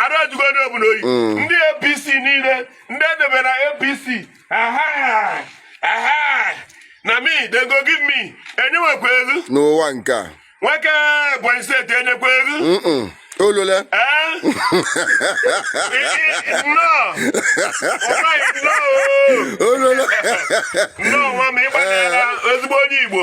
arụ ajụgo onye ọbụna oyi mm. ndị apc niile ndị edebe na apc na me they go give me enyenwekwa elu n'ụwa nke a nwoke ebonyi steeti enyekwa elu olole olole nnọọ nwa m ịgbanyela ezigbo onye igbo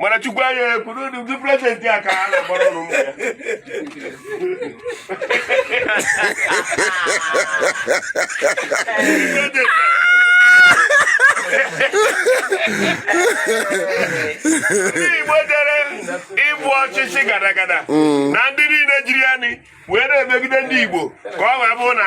mana chukwu anya ekwu n'ụdị prezidenti a ka ha na-agbara ọrụ ụmụ ya ndị igbo dere ịbụ ọchịchị ga-ada ga-ada na ndị niile jiri anyị wee na-emegide ndị igbo ka ọ wee bụ na